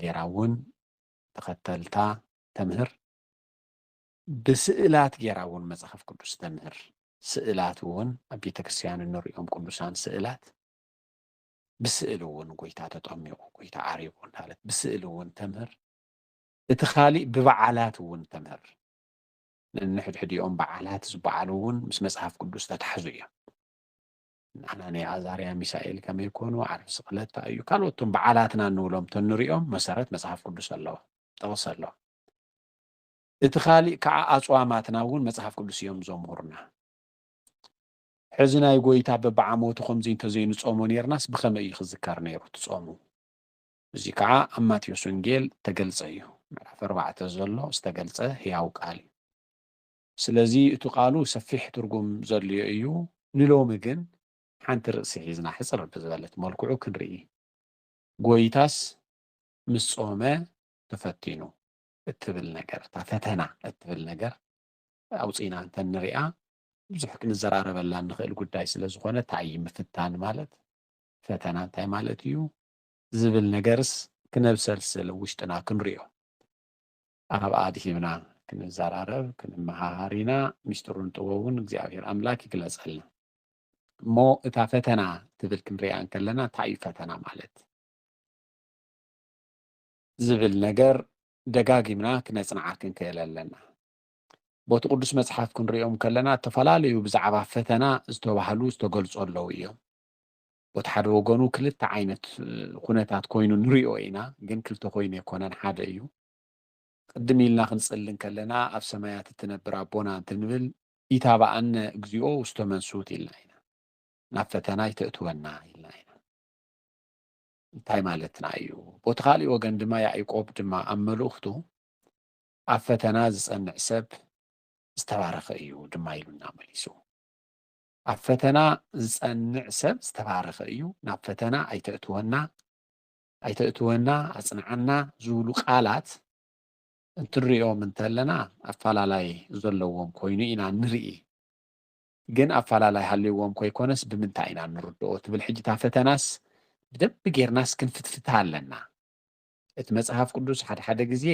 ጌራ እውን ተኸተልታ ተምህር ብስእላት ጌራ እውን መጽሓፍ ቅዱስ ተምህር ስእላት እውን ኣብ ቤተ ክርስቲያን እንሪኦም ቅዱሳን ስእላት ብስእሊ እውን ጎይታ ተጠሚቑ ጎይታ ዓሪቡ እንዳለት ብስእሊ እውን ተምህር እቲ ኻሊእ ብበዓላት እውን ተምህር። ነንሕድሕዲኦም በዓላት ዝበዓሉ እውን ምስ መጽሓፍ ቅዱስ ዝተታሕዙ እዮም። ኣናንያ፣ ኣዛርያ፣ ሚሳኤል ከመይ ኮኑ፣ ዓርቢ ስቕለት እንታይ እዩ፣ ካልኦት እቶም በዓላትና እንብሎም ተንሪኦም መሰረት መጽሓፍ ቅዱስ ኣለዎም፣ ጥቕሲ ኣለዎም። እቲ ኻሊእ ከዓ ኣጽዋማትና እውን መጽሓፍ ቅዱስ እዮም ዘምህሩና። ሕዚ ናይ ጎይታ በብዓመቱ ከምዚ እንተዘይንጾሞ ኔርናስ ብኸመይ እዩ ክዝከር ነይሩ እቲ ጾሙ? እዚ ከዓ ኣብ ማቴዎስ ወንጌል ተገልጸ እዩ ምዕራፍ ኣርባዕተ ዘሎ ዝተገልጸ ህያው ቃል እዩ ስለዚ እቲ ቃሉ ሰፊሕ ትርጉም ዘልዮ እዩ ንሎሚ ግን ሓንቲ ርእሲ ሒዝና ሕጽር ብዝበለት መልክዑ ክንርኢ ጎይታስ ምስ ጾመ ተፈቲኑ እትብል ነገር እታ ፈተና እትብል ነገር ኣውጺእና እንተንሪኣ ብዙሕ ክንዘራረበላ እንኽእል ጉዳይ ስለ ዝኾነ እንታይ እዩ ምፍታን ማለት ፈተና እንታይ ማለት እዩ ዝብል ነገርስ ክነብሰልስል ውሽጥና ክንሪኦ። ኣብ ኣድሂብና ክንዘራረብ ክንመሃሃር ኢና ሚስጥሩን ጥበቡን እግዚኣብሔር ኣምላክ ይግለፀልና። እሞ እታ ፈተና ትብል ክንሪኣ እንከለና እንታይ እዩ ፈተና ማለት? ዝብል ነገር ደጋጊምና ክነፅንዓ ክንክእል ኣለና። ቦቲ ቅዱስ መፅሓፍ ክንሪኦም ከለና እተፈላለዩ ብዛዕባ ፈተና ዝተባህሉ ዝተገልፁ ኣለዉ እዮም። ቦቲ ሓደ ወገኑ ክልተ ዓይነት ኩነታት ኮይኑ ንሪኦ ኢና ግን ክልተ ኮይኑ ኣይኮነን ሓደ እዩ ቅድም ኢልና ክንጽሊ እንከለና ኣብ ሰማያት እትነብር ኣቦና እንትንብል ኢታባኣነ እግዚኦ ውስተ መንሱት ኢልና ኢና ናብ ፈተና ይተእትወና ኢልና ኢና እንታይ ማለትና እዩ ቦቲ ካሊእ ወገን ድማ ያዕቆብ ድማ ኣብ መልእኽቱ ኣብ ፈተና ዝጸንዕ ሰብ ዝተባረኸ እዩ ድማ ኢሉና መሊሱ ኣብ ፈተና ዝጸንዕ ሰብ ዝተባረኸ እዩ፣ ናብ ፈተና ኣይተእትወና፣ ኣይተእትወና፣ ኣጽንዓና ዝብሉ ቃላት እንትንርእዮም እንተለና ኣፈላላይ ዘለዎም ኮይኑ ኢና ንርኢ። ግን ኣፈላላይ ሃልይዎም ከይኮነስ ብምንታይ ኢና ንርድኦ ትብል ሕጂ እታ ፈተናስ ብደንቢ ጌርናስ ክንፍትፍታ ኣለና። እቲ መጽሓፍ ቅዱስ ሓድሓደ ግዜ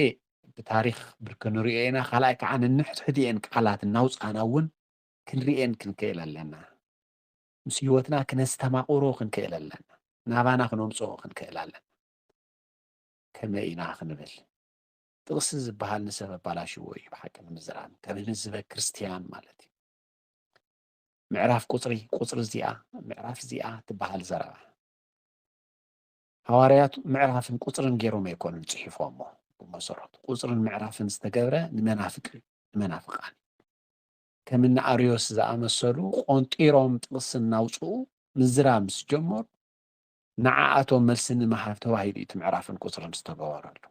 ብታሪኽ ብርክ ንርእዮ ኢና፣ ካልኣይ ከዓ ነንሕድሕድኤን ቃላት እናውጻእና እውን ክንርእየን ክንክእል ኣለና። ምስ ህይወትና ክነስተማቕሮ ክንክእል ኣለና። ናባና ክነምጽኦ ክንክእል ኣለና። ከመይ ኢና ክንብል ጥቕሲ ዝበሃል ንሰብ ኣባላሽዎ እዩ ብሓቂ ንምዝራብ ከም ህዝበ ክርስትያን ማለት እዩ ምዕራፍ ቁፅሪ ቁፅሪ እዚኣ ምዕራፍ እዚኣ ትበሃል ዘረባ ሃዋርያት ምዕራፍን ቁፅርን ገይሮም ኣይኮኑን ፅሒፎሞ ብመሰረቱ ቁፅርን ምዕራፍን ዝተገብረ ንመናፍቅ ንመናፍቃን ከምኒ ኣርዮስ ዝኣመሰሉ ቆንጢሮም ጥቕሲ እናውጽኡ ምዝራብ ምስ ጀመሩ፣ ንዓኣቶም መልሲ ንምሃብ ተባሂሉ እዩ እቲ ምዕራፍን ቁጽርን ዝተገበረሉ።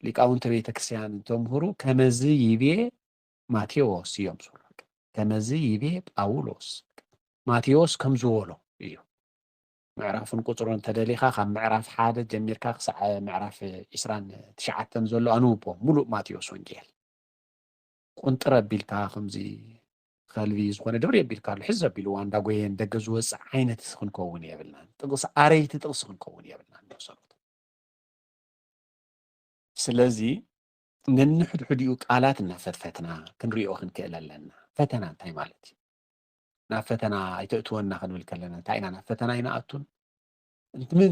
ሊቃውንተ ቤተ ክርስቲያን እንተምህሩ ከመዚ ይቤ ማቴዎስ እዮም ዝብሉ፣ ከመዚ ይቤ ጳውሎስ፣ ማቴዎስ ከምዚ በሎ እዩ። ምዕራፍን ቁጽሩን እንተደሊኻ ካብ ምዕራፍ ሓደ ጀሚርካ ክሳዕ ምዕራፍ ዒስራን ትሽዓተን ዘሎ ኣንብቦ፣ ምሉእ ማቴዎስ ወንጌል። ቁንጥር ኣቢልካ ከምዚ ከልቢ ዝኾነ ድብሪ ኣቢልካ ኣሎ ሕዝ ኣቢልዋ እንዳጎየ ንደገ ዝወፅእ ዓይነት ክንከውን የብልናን ጥቕሲ ኣረይቲ ጥቕሲ ክንከውን የብልናን መሰረቱ ስለዚ ነንሕድሕዲኡ ቃላት እናፈትፈትና ክንሪኦ ክንክእል ኣለና ፈተና እንታይ ማለት እዩ ናብ ፈተና ኣይተእትወና ክንብል ከለና እንታይ ኢና ናብ ፈተና ኣይንኣቱን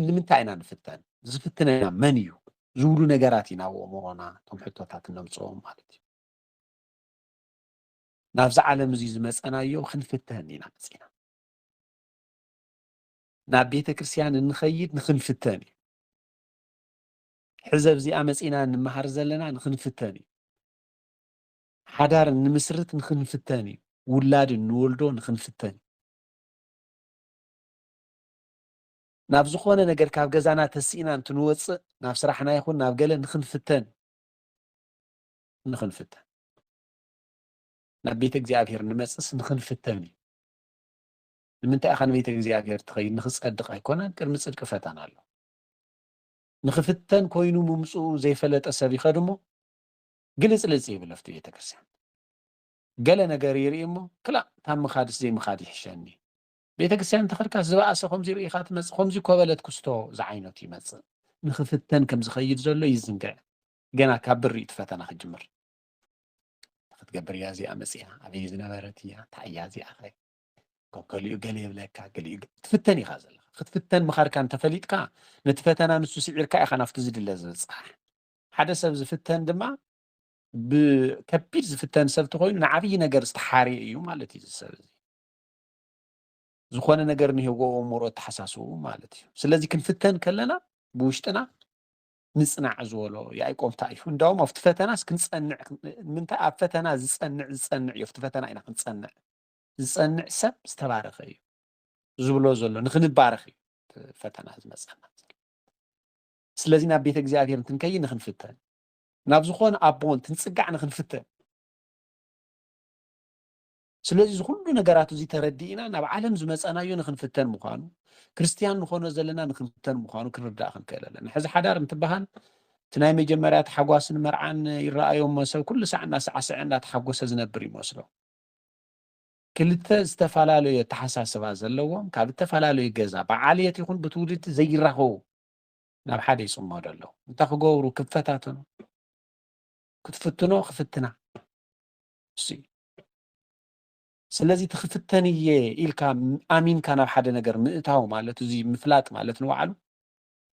ንምንታይ ኢና ንፍተን ዝፍትነና መን እዩ ዝብሉ ነገራት ኢና ኣብ ኣእምሮና እቶም ሕቶታት እነምፅኦም ማለት እዩ ናብዚ ዓለም እዚ ዝመፀናዮ ክንፍተን ኢና መፂና ናብ ቤተ ክርስቲያን እንኸይድ ንክንፍተን እዩ ሕዘብ እዚኣ መፂና እንመሃር ዘለና ንክንፍተን እዩ ሓዳር እንምስርት ንክንፍተን እዩ ውላድ እንወልዶ ንክንፍተን እዩ ናብ ዝኾነ ነገር ካብ ገዛና ተሲእና እንትንወጽእ ናብ ስራሕና ይኹን ናብ ገለ ንኽንፍተን ንኽንፍተን ናብ ቤተ እግዚኣብሔር ንመጽእስ ንኽንፍተን እዩ ንምንታይ ኢኻ ንቤተ እግዚኣብሔር ትኸይድ ንኽጸድቕ ኣይኮነን ቅድሚ ጽድቂ ፈተና ኣሎ ንኽፍተን ኮይኑ ምምፅኡ ዘይፈለጠ ሰብ ይኸድ እሞ ግልፅልፅ ይብል ኣብቲ ቤተ ክርስቲያን ገለ ነገር ይርኢ እሞ ክላእ ካብ ምኻድስ ዘይምኻድ ይሕሸኒ ቤተክርስቲያን ተኸድካስ ዝባኣሰ ከምዚ ርኢኻ ትመጽእ ከምዚ እኮ በለት ኩስቶ ዝዓይነቱ ይመጽእ ንኽፍተን ከም ዝኸይድ ዘሎ ይዝንግዕ ገና ካብ ብር እዩ እቲ ፈተና ክጅምር ክትገብር እያ እዚኣ መጽያ ኣበይ ዝነበረት እያ እንታይ እያ እዚኣ ኸ ገሊኡ ገለ የብለካ ገሊኡ ትፍተን ኢኻ ዘለኻ ክትፍተን ምኻድካ እንተፈሊጥካ ነቲ ፈተና ንሱ ስዒርካ ኢኻ ናብቲ ዝድለ ዝበፅሕ ሓደ ሰብ ዝፍተን ድማ ብከቢድ ዝፍተን ሰብ ተኮይኑ ንዓብዪ ነገር ዝተሓርየ እዩ ማለት እዩ ዝሰብ እዚ ዝኾነ ነገር ንህይወ እሙሮ ኣተሓሳስቡ ማለት እዩ ስለዚ ክንፍተን ከለና ብውሽጥና ንጽናዕ ዝበሎ ያዕቆብ እንታይ እዩ እንዳውም ኣብቲ ፈተናስ ክንጸንዕ ምንታይ ኣብ ፈተና ዝጸንዕ ዝጸንዕ እዩ ኣብቲ ፈተና ኢና ክንጸንዕ ዝጸንዕ ሰብ ዝተባረኸ እዩ ዝብሎ ዘሎ ንክንባረኽ እዩ ፈተና ዝመፀና ስለዚ ናብ ቤተ እግዚኣብሔር እንትንከይ ንክንፍተን ናብ ዝኾነ ኣቦን ትንፅጋዕ ንክንፍተን ስለዚ እዚ ኩሉ ነገራት እዚ ተረዲእና ናብ ዓለም ዝመጸናዮ ንክንፍተን ምዃኑ ክርስትያን ንኾኖ ዘለና ንክንፍተን ምዃኑ ክንርዳእ ክንክእል ኣለና። ሕዚ ሓዳር እንትበሃል እቲ ናይ መጀመርያ ታሕጓስን መርዓን ይረኣዮ እሞ ሰብ ኩሉ ሳዕ እናሳዕሰዐ እናተሓጎሰ ዝነብር ይመስሎ። ክልተ ዝተፈላለዩ ኣተሓሳስባ ዘለዎም ካብ እተፈላለዩ ገዛ ብዓልየት ይኹን ብትውልዲ ዘይራኸቡ ናብ ሓደ ይጽመዱ ኣለዉ። እንታይ ክገብሩ ክፈታተኑ ክትፍትኖ ክፍትና እሱ እዩ። ስለዚ እቲ ክፍተን እየ ኢልካ ኣሚንካ ናብ ሓደ ነገር ምእታው ማለት እዚ ምፍላጥ ማለት ንባዕሉ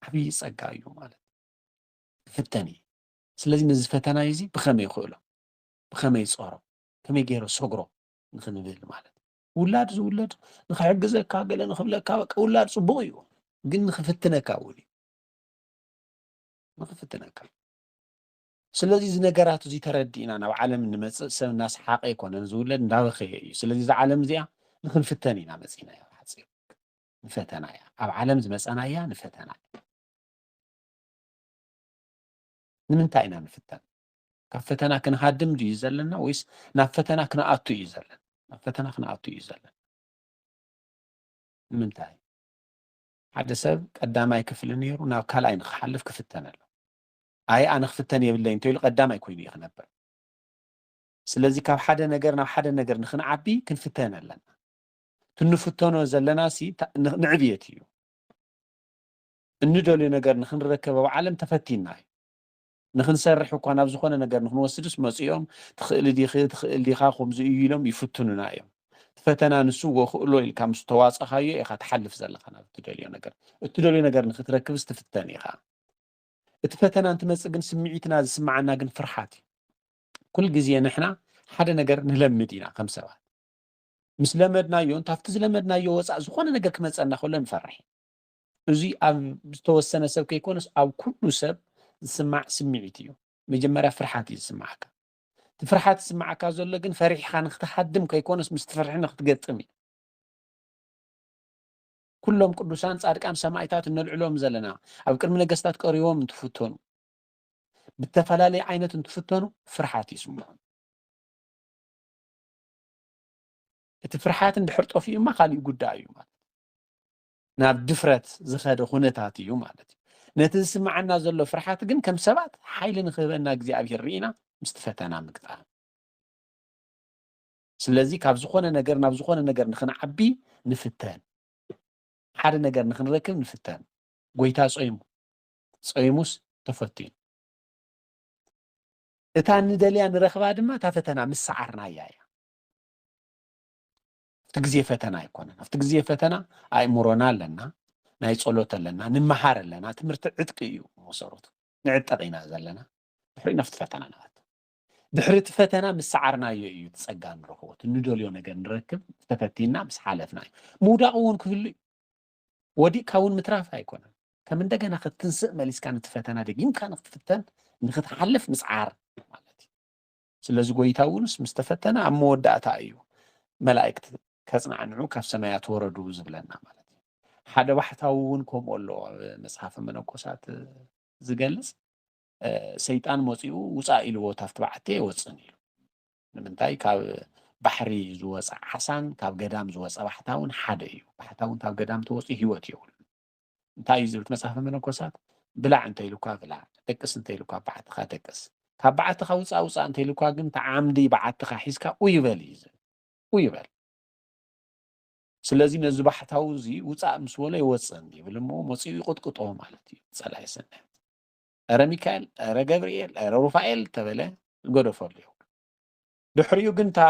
ዓብዪ ጸጋ እዩ ማለት ክፍተን እየ ስለዚ ነዚ ፈተናይ እዚ ብኸመይ ይኽእሎ ብኸመይ ጸሮ ከመይ ገይረ ሰግሮ ንክንብል ማለት ውላድ ዝውለድ ንክሕግዘካ ገለ ንክብለካ በቃ ውላድ ጽቡቕ እዩ ግን ንክፍትነካ እውን እዩ ንክፍትነካ ስለዚ እዚ ነገራት እዚ ተረዲእና ናብ ዓለም እንመጽእ ሰብ እናሰሓቐ ኣይኮነን ዝውለድ እንዳበኸየ እዩ። ስለዚ እዛ ዓለም እዚኣ ንኽንፍተን ኢና መጺእናያ ብሓጺሩ ንፈተና እያ ኣብ ዓለም ዝመጸናያ ንፈተና እያ። ንምንታይ ኢና ንፍተን? ካብ ፈተና ክንሃድም ድዩ ዘለና ወይስ ናብ ፈተና ክንኣቱ እዩ ዘለና? ናብ ፈተና ክንኣቱ እዩ ዘለና። ንምንታይ? ሓደ ሰብ ቀዳማይ ክፍሊ ነይሩ ናብ ካልኣይ ንክሓልፍ ክፍተን ኣሎ። ኣየ ኣነ ክፍተን የብለይን እንተይሉ ቀዳማይ ኮይኑ እዩ ክነብር። ስለዚ ካብ ሓደ ነገር ናብ ሓደ ነገር ንክንዓቢ ክንፍተን ኣለና። እቲ እንፍተኖ ዘለናሲ ንዕብየት እዩ። እንደልዮ ነገር ንክንረከብ ኣብ ዓለም ተፈቲንና እዩ። ንክንሰርሕ እኳ ናብ ዝኾነ ነገር ንክንወስድስ መፂኦም ትኽእሊ ዲኺ ትኽእል ዲኻ ከምዚ እዩ ኢሎም ይፍትኑና እዮም። እቲ ፈተና ንሱ ወክእሎ ኢልካ ምስ ተዋፀኻዮ ኢኻ ትሓልፍ ዘለኻ ናብ እትደልዮ ነገር። እትደልዮ ነገር ንክትረክብስ ትፍተን ኢኻ። እቲ ፈተና እንትመጽእ ግን ስምዒትና ዝስምዓና ግን ፍርሓት እዩ ኩል ግዜ ንሕና ሓደ ነገር ንለምድ ኢና ከም ሰባት ምስ ለመድናዮ እንታብቲ ዝለመድናዮ ወፃእ ዝኾነ ነገር ክመፀና ከሎ ንፈርሕ እዚ ኣብ ዝተወሰነ ሰብ ከይኮነስ ኣብ ኩሉ ሰብ ዝስማዕ ስምዒት እዩ መጀመርያ ፍርሓት እዩ ዝስማዓካ እቲ ፍርሓት ዝስማዓካ ዘሎ ግን ፈሪሕካ ንክትሃድም ከይኮነስ ምስ ትፍርሒ ንክትገጥም እዩ ኩሎም ቅዱሳን ጻድቃን ሰማኢታት እነልዕሎም ዘለና ኣብ ቅድሚ ነገስታት ቀሪቦም እንትፍተኑ ብተፈላለየ ዓይነት እንትፍተኑ ፍርሓት ይስምዖም እቲ ፍርሓት እንድሕር ጠፊኡ እማ ካሊእ ጉዳይ እዩ ማለት ናብ ድፍረት ዝኸደ ኩነታት እዩ ማለት እዩ ነቲ ዝስምዓና ዘሎ ፍርሓት ግን ከም ሰባት ሓይሊ ንክህበና እግዚኣብሄር ርኢና ምስቲ ፈተና ምግጣም ስለዚ ካብ ዝኾነ ነገር ናብ ዝኾነ ነገር ንኽንዓቢ ንፍተን። ሓደ ነገር ንኽንረክብ ንፍተን። ጎይታ ጾይሙ፣ ጾይሙስ ተፈቲኑ። እታ ንደልያ ንረኽባ ድማ እታ ፈተና ምስ ሰዓርናያ እያ። ኣብቲ ግዜ ፈተና ኣይኮነን። ኣብቲ ግዜ ፈተና ኣእምሮና ኣለና፣ ናይ ጸሎት ኣለና፣ ንመሃር ኣለና። ትምህርቲ ዕጥቂ እዩ መሰረቱ። ንዕጠቕ ኢና ዘለና፣ ድሕሪኡ ናብቲ ፈተና ንኣቱ። ድሕሪ እቲ ፈተና ምስ ሰዓርናዮ እዩ እቲ ጸጋ ንረኽቦ እቲ ንደልዮ ነገር ንረክብ ተፈቲንና ምስ ሓለፍና እዩ ምውዳቕ እውን ክህሉ እዩ ወዲቕካ እውን ምትራፍ ኣይኮነን ከም እንደገና ክትትንስእ መሊስካ ነቲ ፈተና ደጊምካ ንክትፍተን ንክትሓልፍ ምስዓር ማለት እዩ ስለዚ ጎይታ እውንስ ምስ ተፈተነ ኣብ መወዳእታ እዩ መላእክት ከጽናዕንዑ ካብ ሰማያት ወረዱ ዝብለና ማለት እዩ ሓደ ባሕታዊ እውን ከምኡ ኣሎ መጽሓፈ መነኮሳት ዝገልጽ ሰይጣን መጺኡ ውጻእ ኢልዎ ታፍቲ በዓቲ ኣይወጽእን ኢሉ ንምንታይ ካብ ባሕሪ ዝወፀ ዓሳን ካብ ገዳም ዝወፀ ባሕታውን ሓደ እዩ ባሕታውን ካብ ገዳም ተወፂኡ ሂወት የብሉ እንታይ እዩ ዝብል መፅሓፈ መነኮሳት ብላዕ እንተኢሉኳ ብላዕ ደቅስ እንተኢሉኳ በዓትኻ ደቅስ ካብ በዓትኻ ውፃእ ውፃእ እንተኢሉኳ ግን ተዓምዲ በዓትኻ ሒዝካ ኡይበል እዩ ዝብል ኡይበል ስለዚ ነዚ ባሕታዊ እዚ ውፃእ ምስ በሎ ይወፅእን ይብል እሞ መፅኡ ይቕጥቅጦ ማለት እዩ ፀላይ ሰናያት እረ ሚካኤል እረ ገብርኤል እረ ሩፋኤል ተበለ ገደፈሉ ይው ድሕሪኡ ግን እታ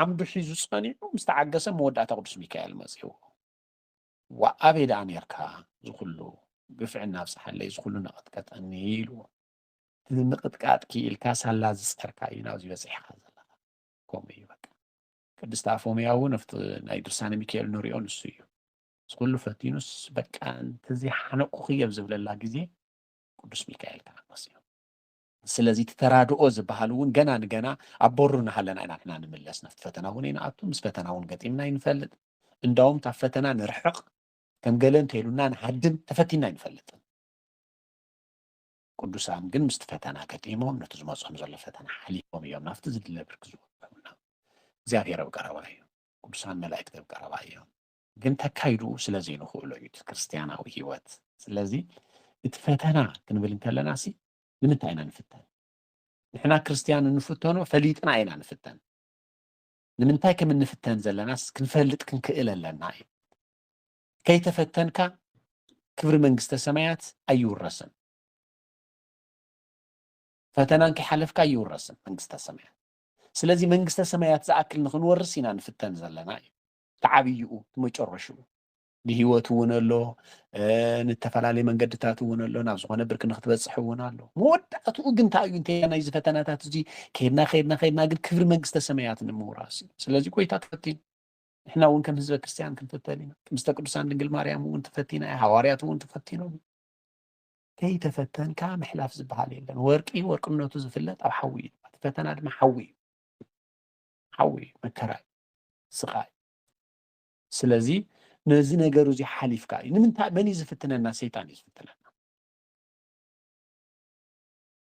ዓምዱ ሒዙ ፀኒዑ ምስ ተዓገሰ መወዳእታ ቅዱስ ሚካኤል መፅኡ ወኣበይ ደኣ ነርካ ዝኩሉ ግፍዕና ኣብፅሓለይ ዝኩሉ ነቐጥቀጠኒ ኢልዎ እዚ ምቕጥቃጥ ክኢልካ ሳላ ዝፀርካ እዩ ናብዚ በፂሕካ ዘለካ ከምኡ እዩ በቃ ቅድስቲ ኣፎምያ እውን ኣብቲ ናይ ድርሳነ ሚካኤል ንሪኦ ንሱ እዩ ምስ ኩሉ ፈቲኑስ በቃ እንተዘይ ሓነቅኩኪ ኣብ ዝብለላ ግዜ ቅዱስ ሚካኤል ከኣ መጽዮ ስለዚ እቲ ተራድኦ ዝበሃል እውን ገና ንገና ኣብ በሩ እናሃለና ኢና ንሕና ንምለስ ናብቲ ፈተና እውን ይንኣቱ ምስ ፈተና እውን ገጢምና ይንፈልጥ እንዳውም ካብ ፈተና ንርሕቕ ከም ገለ እንተይሉና ንሃድም ተፈቲና ኣይንፈልጥን ቅዱሳን ግን ምስቲ ፈተና ገጢሞም ነቲ ዝመፆም ዘሎ ፈተና ሓሊፎም እዮም ናብቲ ዝድለ ብርኪ ዝበፅሑና እግዚኣብሔር ኣብ ቀረባ እዩ ቅዱሳን መላእክቲ ኣብ ቀረባ እዮም ግን ከካይድኡ ስለ ዘይንኽእሎ እዩ እቲ ክርስትያናዊ ህይወት። ስለዚ እቲ ፈተና ክንብል እንከለና ሲ ንምንታይ ኢና ንፍተን? ንሕና ክርስትያን እንፍተኖ ፈሊጥና ኢና ንፍተን። ንምንታይ ከም እንፍተን ዘለናስ ክንፈልጥ ክንክእል ኣለና እዩ። ከይተፈተንካ ክብሪ መንግስተ ሰማያት ኣይውረስን። ፈተናን ከይሓለፍካ ኣይውረስን መንግስተ ሰማያት። ስለዚ መንግስተ ሰማያት ዝኣክል ንክንወርስ ኢና ንፍተን ዘለና እዩ። እቲ ዓብይኡ እቲ መጨረሽኡ ብሂወት እውን ኣሎ ንተፈላለየ መንገድታት እውን ኣሎ ናብ ዝኾነ ብርኪ ንክትበፅሕ እውን ኣሎ መወዳእትኡ ግን እንታይ እዩ እንተና ናይዚ ፈተናታት እዚ ከድና ከድና ከድና ግን ክብሪ መንግስተ ሰማያት ንምውራስ እዩ ስለዚ ጎይታ ትፈትን ንሕና እውን ከም ህዝበ ክርስትያን ክንፍተን ኢና ቅድስተ ቅዱሳን ድንግል ማርያም እውን ትፈቲና እያ ሃዋርያት እውን ትፈቲኖም እዩ ከይተፈተንካ ምሕላፍ ዝበሃል የለን ወርቂ ወርቅነቱ ዝፍለጥ ኣብ ሓዊ እዩ እቲ ፈተና ድማ ሓዊ እዩ ሓዊ እዩ መከራ እዩ ስቓይ ስለዚ ነዚ ነገር እዚ ሓሊፍካ እዩ ንምንታይ መን እዩ ዝፍትነና ሰይጣን እዩ ዝፍትነና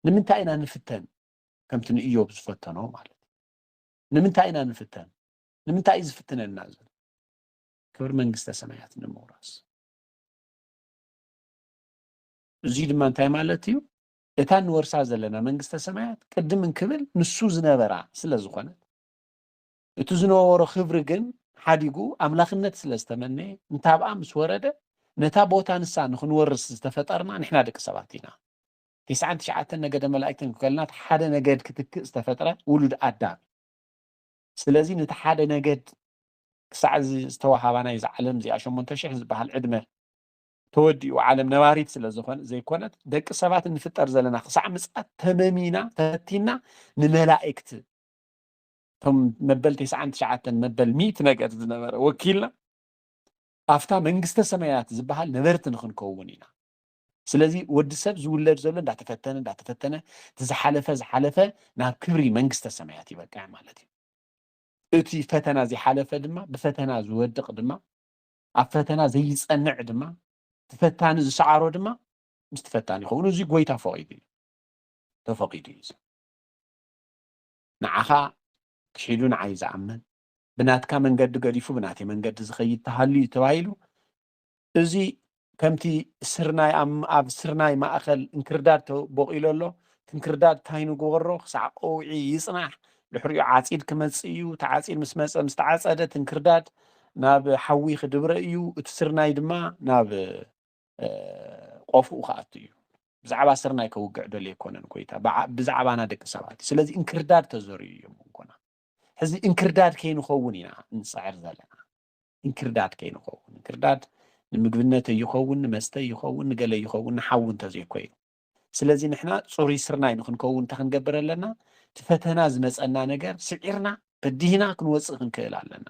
ንምንታይ ኢና ንፍተን ከምቲ ንእዮብ ዝፈተኖ ማለት እዩ ንምንታይ ኢና ንፍተን ንምንታይ እዩ ዝፍትነና ዘሎ ክብሪ መንግስተ ሰማያት ንምውራስ እዚ ድማ እንታይ ማለት እዩ እታ ንወርሳ ዘለና መንግስተ ሰማያት ቅድም እንክብል ንሱ ዝነበራ ስለ ዝኾነት እቲ ዝነበሮ ክብሪ ግን ሓዲጉ ኣምላኽነት ስለ ዝተመነየ እንታብኣ ምስ ወረደ ነታ ቦታ ንሳ ንኽንወርስ ዝተፈጠርና ንሕና ደቂ ሰባት ኢና። ቴስዓን ትሽዓተን ነገደ መላእክቲ እንከልናት ሓደ ነገድ ክትክእ ዝተፈጥረ ውሉድ ኣዳም እዩ። ስለዚ ነቲ ሓደ ነገድ ክሳዕ እዚ ዝተዋሃባ ናይ እዛ ዓለም እዚኣ ሸሞንተ ሽሕ ዝበሃል ዕድመ ተወዲኡ ዓለም ነባሪት ስለ ዝኾነ ዘይኮነት ደቂ ሰባት እንፍጠር ዘለና ክሳዕ ምጽኣት ተመሚና ተፈቲና ንመላእክቲ እቶም መበል ተስዓን ትሽዓተን መበል ሚእቲ ነገር ዝነበረ ወኪልና ኣብታ መንግስተ ሰማያት ዝበሃል ነበርቲ ንክንከውን ኢና ስለዚ ወዲ ሰብ ዝውለድ ዘሎ እንዳተፈተነ እንዳተፈተነ እቲ ዝሓለፈ ዝሓለፈ ናብ ክብሪ መንግስተ ሰማያት ይበቅዕ ማለት እዩ እቲ ፈተና ዝሓለፈ ድማ ብፈተና ዝወድቕ ድማ ኣብ ፈተና ዘይፀንዕ ድማ ተፈታኒ ዝሰዓሮ ድማ ምስ ተፈታኒ ይኸውን እዚ ጎይታ ፈቂዱ እዩ ተፈቂዱ እዩ ንዓኻ ክሒዱ ንዓይ ዝኣምን፣ ብናትካ መንገዲ ገዲፉ ብናተይ መንገዲ ዝኸይድ ተሃልዩ እዩ ተባሂሉ። እዚ ከምቲ ስርናይ ኣብ ስርናይ ማእኸል እንክርዳድ ተቦቂሉ ኣሎ፣ እቲ እንክርዳድ ታይ ንግበሮ ክሳዕ ቀውዒ ይፅናሕ ድሕሪኡ ዓፂድ ክመፅእ እዩ፣ እቲ ዓፂድ ምስ መፀ ምስ ተዓፀደ እቲ እንክርዳድ ናብ ሓዊ ክድብረ እዩ፣ እቲ ስርናይ ድማ ናብ። ቆፍኡ ክኣቱ እዩ ብዛዕባ ስርናይ ከውግዕ ደልየ ኣይኮነን ኮይታ ብዛዕባና ደቂ ሰባት እዩ ስለዚ እንክርዳድ ተዘርዩ እዩ መንኮና ሕዚ እንክርዳድ ከይንኸውን ኢና እንፅዕር ዘለና እንክርዳድ ከይንኸውን እንክርዳድ ንምግብነት ይኸውን ንመስተ ይኸውን ንገለ ይኸውን ንሓዊ እንተዘይኮይኑ ስለዚ ንሕና ፅሩይ ስርናይ ንክንከውን እንታይ ክንገብር ኣለና እቲ ፈተና ዝመፀና ነገር ስዒርና በዲህና ክንወፅእ ክንክእል ኣለና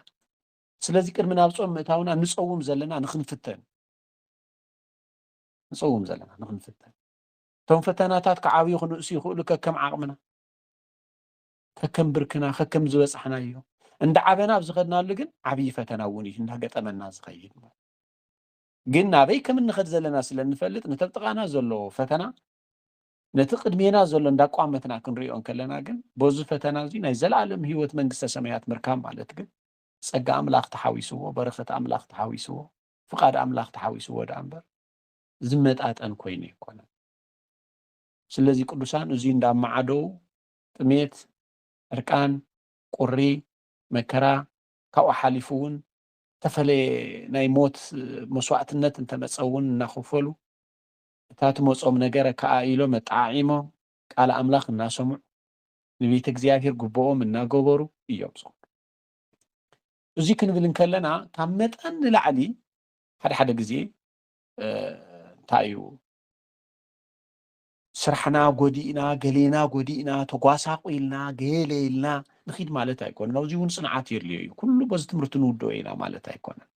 ስለዚ ቅድሚ ናብ ጾም ምእታውና ንጸውም ዘለና ንክንፍተን ንጸውም ዘለና ንክንፍተን እቶም ፈተናታት ክዓብዩ ክንእሱ ይኽእሉ ከከም ዓቕምና ከከም ብርክና ከከም ዝበጻሕና እዩ እንዳ ዓበና ኣብ ዝኸድናሉ ግን ዓብዪ ፈተና እውን እዩ እንዳገጠመና ዝኸይድ ግን ናበይ ከም እንኸድ ዘለና ስለ እንፈልጥ ንተብጥቓና ዘለዎ ፈተና ነቲ ቅድሜና ዘሎ እንዳቋመትና ክንርእዮ እንከለና ግን በዙ ፈተና እዙይ ናይ ዘለኣለም ህይወት መንግስተ ሰማያት ምርካብ ማለት ግን ጸጋ ኣምላኽ ተሓዊስዎ በረኸት ኣምላኽ ተሓዊስዎ ፍቓድ ኣምላኽ ተሓዊስዎ ደኣ እምበር ዝመጣጠን ኮይኑ ኣይኮነን። ስለዚ ቅዱሳን እዙይ እንዳማዓደው ጥሜት፣ ዕርቃን፣ ቁሪ፣ መከራ ካብኡ ሓሊፉ እውን ተፈለየ ናይ ሞት መስዋዕትነት እንተመጸ እውን እናኸፈሉ እታ ትመጾም ነገረ ከኣ ኢሎም ኣጠዓዒሞም ቃል ኣምላኽ እናሰምዑ ንቤተ እግዚኣብሔር ጉቦኦም እናገበሩ እዮም ዝኹዱ። እዙይ ክንብል እንከለና ካብ መጠን ንላዕሊ ሓደ ሓደ ግዜ እንታይ እዩ ስራሕና ጎዲእና ገሌና ጎዲእና ተጓሳቑልና ገለ ኢልና ንኺድ ማለት ኣይኮነን ኣብዚ እውን ፅንዓት የድልዮ እዩ ኩሉ በዚ ትምህርቲ ንውድኦ ኢና ማለት ኣይኮነን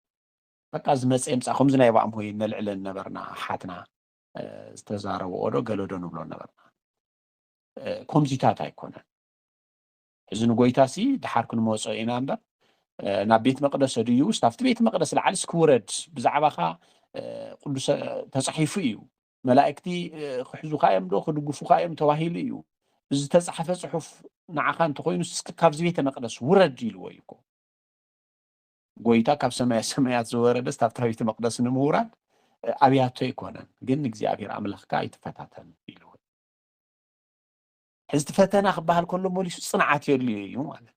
በቃ ዝመጸ ይምጻእ ከምዚ ናይ ባእም ሆይ ነልዕለን ነበርና ኣሓትና ዝተዛረብኦ ዶ ገለ ዶ ንብሎ ነበርና ከምዚታት ኣይኮነን እዚ ንጎይታ ሲ ድሓር ክንመጾ ኢና እምበር ናብ ቤት መቅደስ ድዩ ውስ ኣብቲ ቤት መቅደስ ላዓሊ ስክውረድ ብዛዕባካ ቅዱሰ ተጻሒፉ እዩ መላእክቲ ክሕዙካ እዮም ዶ ክድግፉካ እዮም ተባሂሉ እዩ እዚ ተጻሓፈ ጽሑፍ ንዓኻ እንተኮይኑ እስኪ ካብዚ ቤተ መቅደስ ውረድ ኢልዎ እዩ እኮ ጎይታ ካብ ሰማየ ሰማያት ዝወረደስ ኣብታ ቤተ መቅደስ ንምውራድ ኣብያቶ ኣይኮነን፣ ግን ንእግዚኣብሔር ኣምላኽካ ኣይትፈታተን ኢሉ። ሕዚ እቲ ፈተና ክበሃል ከሎ መሊሱ ጽንዓት የድልዮ እዩ ማለት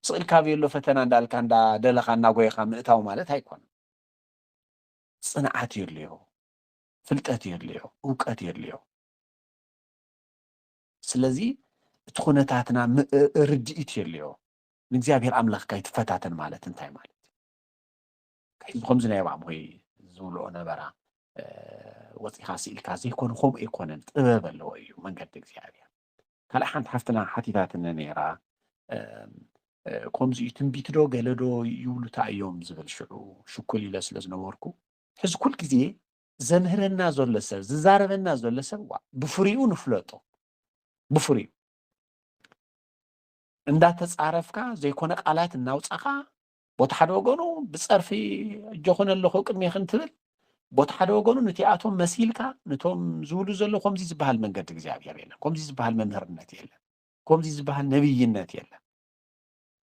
ስቕ ኢልካ ብየሎ ፈተና እንዳልካ እንዳደለኻ እናጎይኻ ምእታው ማለት ኣይኮነ ጽንዓት የድልዮ ፍልጠት የድልዮ እውቀት የድልዮ ስለዚ እቲ ኩነታትና ርድኢት የድልዮ ንእግዚኣብሔር ኣምላኽካ ኣይትፈታተን ማለት እንታይ ማለት እዩ? ሕዚ ከምዚ ናይ ባዕምኹይ ዝብልኦ ነበራ ወፂኻ ስኢልካ ዘይኮነ ከምኡ ኣይኮነን ጥበብ ኣለዎ እዩ መንገዲ እግዚኣብሔር ካልእ ሓንቲ ሓፍትና ሓቲታትኒ ነይራ ከምዚ እዩ ትንቢት ዶ ገለ ዶ ይብሉ እንታይ እዮም ዝብል ሽዑ ሽኩል ኢለ ስለ ዝነበርኩ ሕዚ ኩል ግዜ ዘምህረና ዘሎ ሰብ ዝዛረበና ዘሎ ሰብ ብፍሪኡ ንፍለጦ ብፍሪኡ እንዳተጻረፍካ ዘይኮነ ቃላት እናውጻኻ ቦቲ ሓደ ወገኑ ብጸርፊ እጆኹን ኣለኹ ቅድሜኽን ትብል ቦቲ ሓደ ወገኑ ንቲኣቶም መሲልካ ንቶም ዝብሉ ዘሎ ከምዚ ዝበሃል መንገዲ እግዚኣብሔር የለን ከምዚ ዝበሃል መምህርነት የለን ከምዚ ዝበሃል ነብይነት የለን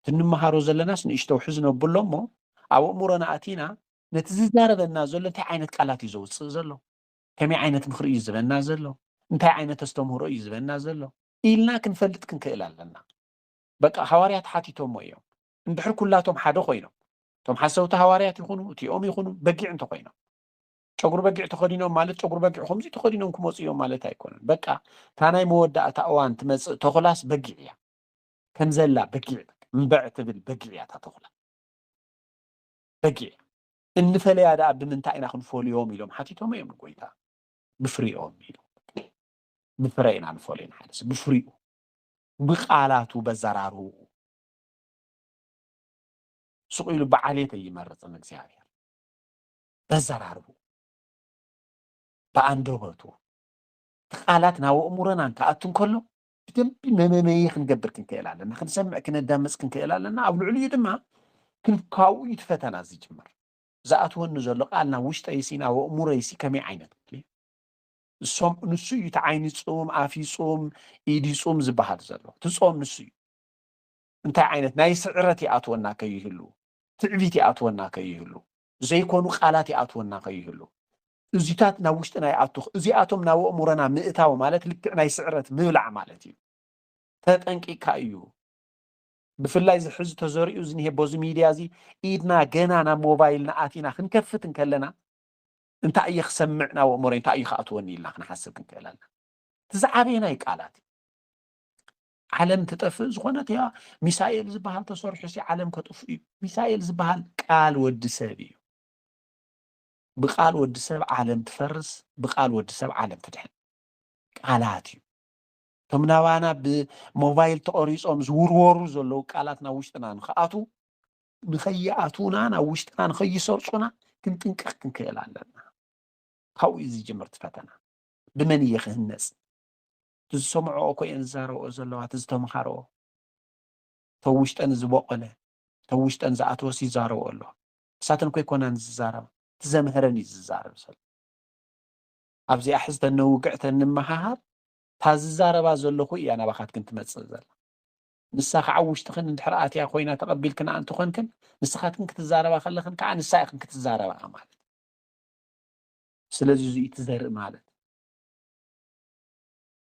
ትንመሃሮ ዘለናስ ንእሽተው ሕዝ ነብሎ እሞ ኣብ እእምሮና ኣቲና ነቲ ዝዛረበና ዘሎ እንታይ ዓይነት ቃላት እዩ ዘውፅእ ዘሎ ከመይ ዓይነት ምክሪ እዩ ዝበና ዘሎ እንታይ ዓይነት ኣስተምህሮ እዩ ዝበና ዘሎ ኢልና ክንፈልጥ ክንክእል ኣለና። በቃ ሃዋርያት ሓቲቶሞ እዮም። እንድሕር ኩላቶም ሓደ ኮይኖም፣ እቶም ሓሰውቲ ሃዋርያት ይኹኑ እቲኦም ይኹኑ በጊዕ እንተኾይኖም፣ ጨጉሪ በጊዕ ተኸዲኖም ማለት ጨጉሪ በጊዕ ከምዚ ተኸዲኖም ክመፁ እዮም ማለት ኣይኮነን። በቃ እታ ናይ መወዳእታ እዋን ትመፅእ ተኹላስ በጊዕ እያ። ከምዘላ በጊዕ እምበዕ ትብል በጊዕ እያ እታ ተኹላ በጊዕ እንፈለያ ደኣ ብምንታይ ኢና ክንፈልዮም ኢሎም ሓቲቶም እዮም ንጎይታ ብፍሪኦም ኢሎም ብፍረ ኢና ንፈልዮ ንሓደ ሰብ ብፍሪኡ ብቃላቱ በዘራርብኡ ስቕ ኢሉ ብዓሌት ኣይመርፅን እግዚኣብሔር በዘራርብኡ ብኣንደበቱ እቲ ቃላት ናብ ኣእምሮናን ክኣቱ እንከሎ ብደንቢ መመመየ ክንገብር ክንክእል ኣለና ክንሰምዕ ክነዳምፅ ክንክእል ኣለና ኣብ ልዕሊኡ ድማ ክንካብኡ እዩ እቲ ፈተና ዝጅምር ዝኣትወኒ ዘሎ ቃል ናብ ውሽጠይሲ ናብ ኣእምሮይሲ ከመይ ዓይነት ቃል እዩ ንሶም ንሱ እዩ እቲ ዓይኒ ፁም ኣፊ ፁም ኢዲ ፁም ዝበሃል ዘሎ እቲ ፆም ንሱ እዩ እንታይ ዓይነት ናይ ስዕረት ይኣትወና ከይህሉ ትዕቢት ይኣትወና ከይህሉ ዘይኮኑ ቃላት ይኣትወና ከይህሉ እዚታት ናብ ውሽጥና ይኣቱ እዚኣቶም ናብ ኣእምሮና ምእታው ማለት ልክዕ ናይ ስዕረት ምብላዕ ማለት እዩ ተጠንቂካ እዩ ብፍላይ እዚ ሕዚ ተዘሪኡ ዝኒሄ በዚ ሚድያ እዚ ኢድና ገና ናብ ሞባይልና ኣቲና ክንከፍት እንከለና እንታይ እየ ክሰምዕ ናብ ኣእምሮይ እንታይ እዩ ክኣትወኒ ኢልና ክንሓስብ ክንክእል ኣለና እቲ ዝዓበየ ናይ ቃላት እዩ ዓለም ትጠፍእ ዝኾነት እያ ሚሳኤል ዝበሃል ተሰርሑ ሲ ዓለም ከጥፍ እዩ ሚሳኤል ዝበሃል ቃል ወዲ ሰብ እዩ ብቃል ወዲ ሰብ ዓለም ትፈርስ ብቃል ወዲ ሰብ ዓለም ትድሕን ቃላት እዩ እቶም ናባና ብሞባይል ተቐሪፆም ዝውርወሩ ዘለዉ ቃላት ናብ ውሽጥና ንክኣትዉ ንኸይኣትዉናን ኣብ ውሽጥና ንኸይሰርፁና ክንጥንቀቕ ክንክእል ኣለና ካብኡ እዩ ዝጅምር እቲ ፈተና ብመን እየ ክህነፅ እቲ ዝሰምዐኦ እኮ እየን ዝዛረብኦ ዘለዋ እቲ ዝተምሃረኦ እተብ ውሽጠን ዝበቆለ እተብ ውሽጠን ዝኣተወስ ይዛረብኦ ኣሎ ንሳተን ኮይኮናን ዝዛረባ እቲ ዘምህረን እዩ ዝዛረብ ዘሎ ኣብዚኣ ሕዝተን ነውግዕተን ንመሃሃር እታ ዝዛረባ ዘለኹ እያ ናባኻትክን ትመፅእ ዘላ ንሳ ኸዓ ኣብ ውሽጥኽን እንድሕር ኣትያ ኮይና ተቐቢልክንኣ እንተኾንክን ንስኻትክን ክትዛረባ ከለኽን ከዓ ንሳ ኢኽን ክትዛረብኣ ማለት እዩ። ስለዚ እዙይ እዩ እቲ ዘርኢ ማለት።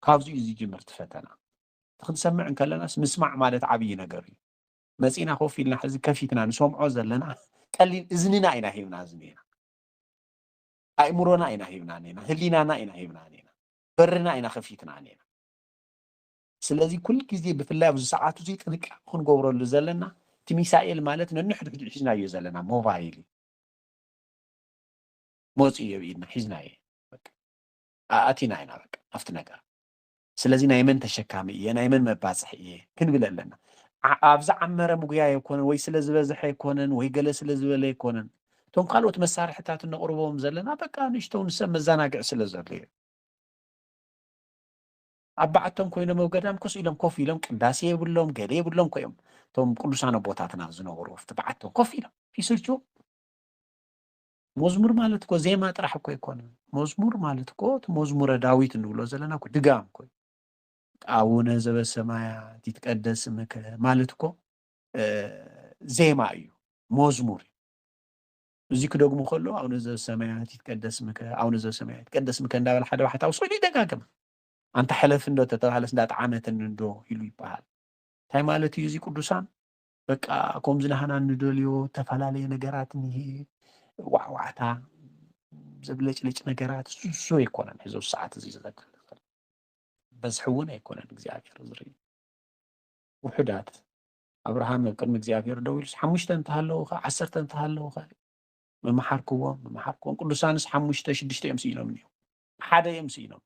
ካብዚ እዩ ዝጅምር እቲ ፈተና። እቲ ክንሰምዕ እንከለናስ ምስማዕ ማለት ዓብዪ ነገር እዩ። መፂእና ኮፍ ኢልና ሕዚ ከፊትና ንሰምዖ ዘለና ቀሊል እዝንና ኢና ሂብና ዝኒኤና። ኣእምሮና ኢና ሂብና ኒና፣ ህሊናና ኢና ሂብና ኒና፣ በርና ኢና ከፊትና ኒና። ስለዚ ኩል ግዜ ብፍላይ ኣብዚ ሰዓት እዚ ጥንቃቀ ክንገብረሉ ዘለና እቲ ሚሳኤል ማለት ነንሕድሕዱ ሒዝናዮ ዘለና ሞባይል እዩ መፅኡ እዮ ብኢድና ሒዝናዮ ኣኣቲና ኢና በቃ ኣብቲ ነገር ስለዚ ናይ መን ተሸካሚ እየ ናይ መን መባፅሒ እየ ክንብል ኣለና ኣብ ዝዓመረ ምጉያ ኣይኮነን ወይ ስለ ዝበዝሐ ኣይኮነን ወይ ገለ ስለ ዝበለ ኣይኮነን እቶም ካልኦት መሳርሕታት እነቕርቦም ዘለና በቃ ንእሽተው ንሰብ መዘናግዒ ስለ ዘሎ እዩ ኣብ ባዓቶም ኮይኖም ኣብ ገዳም ኮስ ኢሎም ኮፍ ኢሎም ቅዳሴ የብሎም ገለ የብሎም እኮ እዮም እቶም ቅዱሳን ኣቦታትና ዝነበሩ ኣብቲ ባዓቶም ኮፍ ኢሎም ይስልችዎም መዝሙር ማለት እኮ ዜማ ጥራሕ እኮ ኣይኮነ መዝሙር ማለት እኮ እቲ መዝሙረ ዳዊት እንብሎ ዘለና እኮ ድጋም እኮ ኣቡነ ዘበሰማያት ይትቀደስ ስምከ ማለት እኮ ዜማ እዩ መዝሙር እዩ እዚ ክደግሙ ከሎ ኣቡነ ዘበሰማያት ይትቀደስ ስምከ ኣቡነ ዘበሰማያት ይትቀደስ ስምከ እንዳበለ ሓደ ባሕታዊ ስእሉ ይደጋግም ኣንታ ሕለፍ እንዶ ተተባህለስ እንዳ ጠዓመትኒ እንዶ ኢሉ ይበሃል እንታይ ማለት እዩ እዚ ቅዱሳን በቃ ከምዚ ናህና ንደልዮ ተፈላለየ ነገራት እኒሄ ዋዕዋዕታ ዘብለጭልጭ ነገራት እሱ ኣይኮነን ሕዚ ሰዓት እዚ ዝዘክር በዝሒ እውን ኣይኮነን እግዚኣብሔር ዝርኢ ውሑዳት ኣብርሃም ኣብ ቅድሚ እግዚኣብሔር ደው ኢሉስ ሓሙሽተ እንተሃለውኸ ዓሰርተ እንተሃለውኸ መመሓርክዎም መመሓርክዎም ቅዱሳንስ ሓሙሽተ ሽዱሽተ እዮም ስኢሎም እኒኦም ሓደ እዮም ስኢኖም።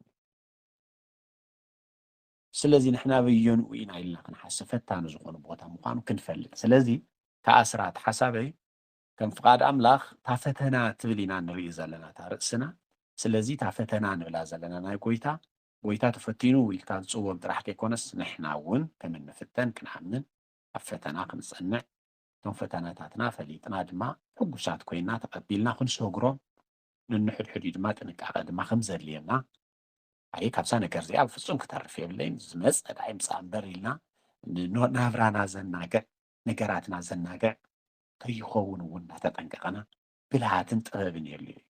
ስለዚ ንሕና ኣበየንኡ ኢና ኢልና ክንሓስብ ፈታኒ ዝኾኑ ቦታ ምዃኑ ክንፈልጥ ስለዚ ከኣ ስራት ሓሳበይ ከም ፍቓድ ኣምላኽ እታ ፈተና ትብል ኢና ንርኢ ዘለና እታ ርእስና ስለዚ እታ ፈተና ንብላ ዘለና ናይ ጎይታ ጎይታ ተፈቲኑ ኢልካ ዝጽወግ ጥራሕ ከይኮነስ ንሕና እውን ከም እንፍተን ክንኣምን ኣብ ፈተና ክንጸንዕ እቶም ፈተናታትና ፈሊጥና ድማ ሕጉሳት ኮይና ተቐቢልና ክንሰግሮም ንንሕድሕድ እዩ ድማ ጥንቃቐ ድማ ከም ዘድልየና ኣይ ካብዛ ነገር እዚኣ ብፍፁም ክተርፍ የብለይን ዝመፀ ዳኣ ይምፃእ እምበር ኢልና ናብራና ዘናግዕ ነገራትና ዘናግዕ ከይኸውን እውን እናተጠንቀቐና ብልሃትን ጥበብን የድልዩ እዩ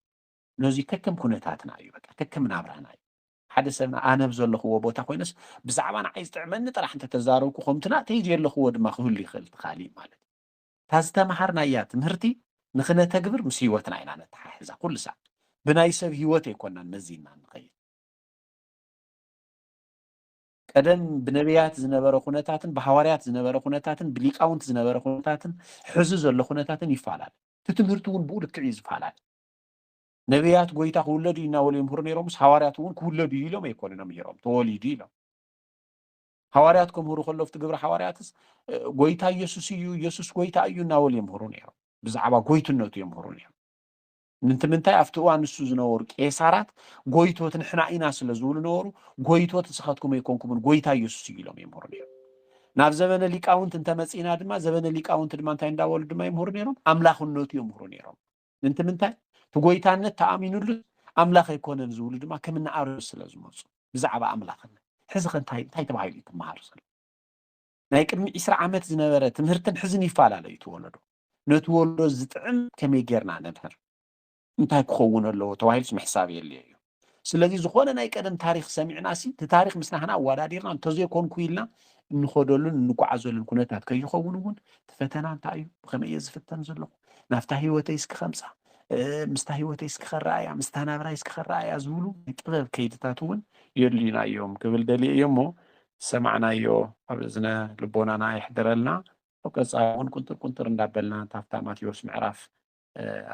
ነዚ ከከም ኩነታትና እዩ በቃ ከከም ናብራና እዩ ሓደ ሰብና ኣነ ዘለኽዎ ቦታ ኮይነስ ብዛዕባ ንዓይ ዝጥዕመኒ ጥራሕ እንተተዛረብኩ ከምትና ተይ ዘለኽዎ ድማ ክህሉ ይኽእል እቲ ካሊእ ማለት እዩ እታ ዝተመሃርናያ ትምህርቲ ንኽነተግብር ምስ ህይወትና ኢና ነተሓሕዛ፣ ኩሉ ሳዕ ብናይ ሰብ ህይወት ኣይኮናን መዚንና እንኸይድ። ቀደም ብነብያት ዝነበረ ኩነታትን ብሃዋርያት ዝነበረ ኩነታትን ብሊቃውንቲ ዝነበረ ኩነታትን ሕዚ ዘሎ ኩነታትን ይፈላለ፣ እቲ ትምህርቲ እውን ብኡ ልክዕ እዩ ዝፈላለ። ነብያት ጎይታ ክውለድ እዩ እናበሉ የምህሩ ነይሮምስ ሃዋርያት እውን ክውለድ እዩ ኢሎም ኣይኮኑን ኣምሂሮም፣ ተወሊዱ ኢሎም። ሃዋርያት ከምህሩ ከሎ ኣብቲ ግብሪ ሃዋርያትስ ጎይታ ኢየሱስ እዩ ኢየሱስ ጎይታ እዩ እናበሉ የምህሩ ነይሮም ብዛዕባ ጎይትነቱ የምህሩ ነይሮም ምንቲ ምንታይ ኣብቲ እዋን ንሱ ዝነበሩ ቄሳራት ጎይቶት ንሕና ኢና ስለ ዝብሉ ነበሩ ጎይቶት ንስኻትኩም ኣይኮንኩምን ጎይታ ኢየሱስ እዩ ኢሎም ይምህሩ ነይሮም ናብ ዘበነ ሊቃውንቲ እንተመፂና ድማ ዘበነ ሊቃውንቲ ድማ እንታይ እንዳበሉ ድማ ይምህሩ ነይሮም ኣምላኽነቱ የምህሩ ነይሮም ምንቲ ምንታይ እቲ ጎይታነት ተኣሚኑሉ ኣምላኽ ኣይኮነን ዝብሉ ድማ ከም ንኣርዮስ ስለ ዝመፁ ብዛዕባ ኣምላኽነት ሕዚ ከ እንታይ እንታይ ተባሂሉ እዩ ትመሃር ዘሎ ናይ ቅድሚ ዒስራ ዓመት ዝነበረ ትምህርትን ሕዝን ይፈላለ እዩ ትወለዶ ነቲ ወለዶ ዝጥዕም ከመይ ጌርና ነምህር እንታይ ክኸውን ኣለዎ ተባሂሉስ ምሕሳብ የድልዮ እዩ ስለዚ ዝኾነ ናይ ቀደም ታሪኽ ሰሚዕናሲ እቲ ታሪኽ ምስ ናህና ኣወዳዲርና እንተዘይኮንኩ ኢልና እንኸደሉን እንጓዓዘሉን ኩነታት ከይኸውን እውን እቲ ፈተና እንታይ እዩ ብኸመይ እየ ዝፍተን ዘለኹ ናብታ ህይወተይ እስኪ ከምፃ ምስታ ህይወተይ እስኪ ከረኣያ ምስታ ናብራይ እስኪ ከረኣያ ዝብሉ ናይ ጥበብ ከይድታት እውን የድልዩና እዮም ክብል ደልየ እዮ እሞ ዝሰማዕናዮ ኣብ እዝነ ልቦናና የሕድረልና ኣብ ቀፃሊ እውን ቁንጥር ቁንጥር እንዳበልና ታፍታ ማቴዎስ ምዕራፍ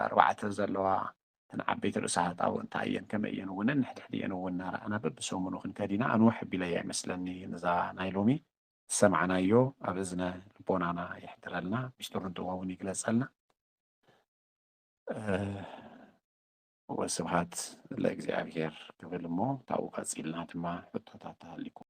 ኣርባዕተ ዘለዋ እተን ዓበይቲ ርእሰ ሃጣው እንታይ እየን ከመይ እየን እውን ንሕድሕድኤን እውን እናረኣና በብሰሙኑ ክንከድ ኢና ኣንውሕ ኣቢለያ ይመስለኒ ነዛ ናይ ሎሚ ዝሰማዕናዮ ኣብ እዝነ ልቦናና የሕድረልና ሚስጥሩን ጥበቡን ይግለፀልና። ወስብሃት ለእግዚኣብሄር ክብል እሞ ካብኡ ቀፂልና ድማ ሕቶታት ተሃሊኩም